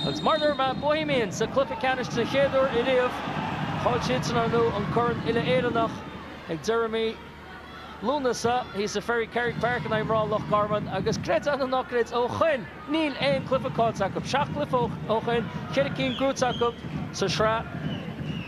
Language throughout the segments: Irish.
Agus maidir le mná Bohemians sa chluiche ceannais den chéad uair ariamh, chaill siadsan ar ndóigh an Corn Uile-Éireannach ag deireadh mhí Lúnasa thíos i Ferry Carrig Park in aghaidh mná Loch Garman agus creid é nó ná creid ó shoin níl aon cluiche caillte acu, seacht gcluiche ó shoin, ceithre cinn gnóite acu sa tsraith.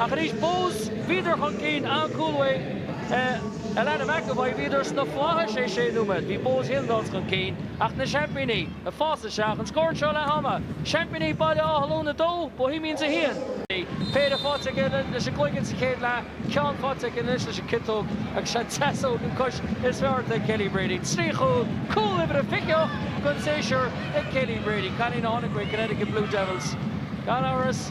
Ach arís, Bohs, bhíodar chun cinn an cúl uaidh Alannah McEvoy, bhíodar sna flaithis. Sé nóiméad. Bhí Bohs Hill nós chun cinn. Ach na seaimpíní, ag fás isteach, an scór anseo leath ama, seaimpíní Baile Átha Luain 2, Bohemians 1. Péire faighte aici leis an gcloigeann sa chéad leath, ceann faighte aici anois leis an gciotóg agus an deasóg an chois is fearr ort ag Kelly Brady. Trí chúl, cúl uimhir a 28 den séasúr ag Kelly Brady. Cailín a tháinig uaidh Connecticut Blue Devils, gan amhras.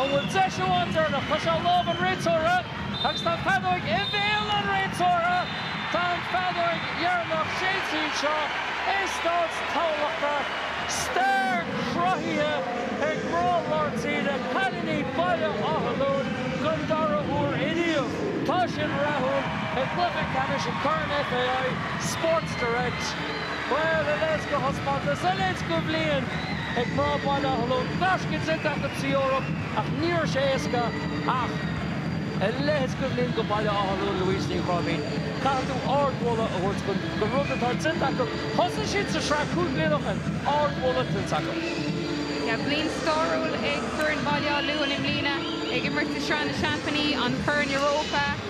An bhfuil deis amháin deireanach? Tá sé i lámh an réiteora agus tá an feadóig i mbéal an réiteora. Tá an feadóig dheireanach séidte anseo i Stáid Thamhlachta. Stair cruthaithe ag mná lár tíre, cailíní Baile Átha Luain don dara huair inniu. Tá siad rathúil i gcluiche ceannais an Corn FAI, Sports Direct. Bhuel a leithéid de thaispeántas a leithéid de bhliain ag mná Baile Átha Luain gaisce déanta acu tríd an Eoraip ach ní raibh sé éasca ach a leithéid de bhliain do Bhaile Átha Luain Louise Ní Chráibhín caithfidh tú ardmholadh a thabhairt chun don rud atá déanta acu. Thosaigh siad sa tsraith cúig bliana ó shin. Ardmholadh tuillte acu. Yeah, bliain stairiúil ag foireann Bhaile Átha Luain i mbliana ag imirt i Sraith na Seaimpíní, an Corn Europa.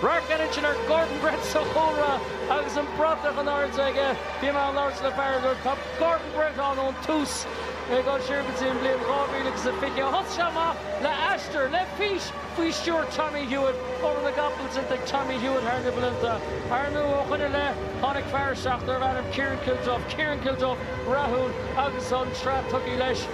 Radharc againn ansin ar Gordon Brett sa chúlra agus an bratach in airde aige. Bhí mé ag labhairt le fear a dúirt, 'Tá Gordon Brett ann ón tús ag dul siar go dtí an bhliain 2020. Thosaigh sé amach le haistear, le fís faoi stiúir Tommy Hewitt, obair na gcapall déanta ag Tommy Hewitt thar na blianta. Ar ndóigh, ó shoin i leith, tháinig fear isteach darb ainm Ciarán Kilduff, Ciarán Kilduff rathúil, agus an tsraith tugtha leis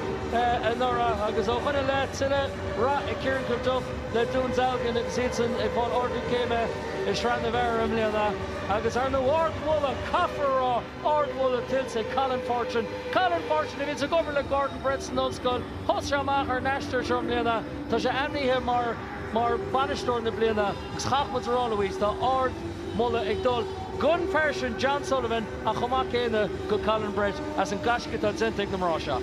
anuraidh agus ó shoin i leith tuilleadh. Rath ag Ciarán Kilduff le Dún Dealgan agus iadsan ag fáil ardú céime i Sraith na bhFear i mbliana. Agus ar ndóigh ardmholadh, caithfear a rá, ardmholadh tuillte ag Colin Fortune. Colin Fortune, a bhíos ag obair le Gordon Brett san Ollscoil, thosaigh sé amach ar an aistear seo i mbliana, tá sé ainmnithe mar bhainisteoir na bliana agus caithfidh muid a rá, Louise, tá ardmholadh ag dul gon fhear sin John Sullivan ach chomh maith céanna go Colin Brett as an gaisce atá déanta ag na mná seo.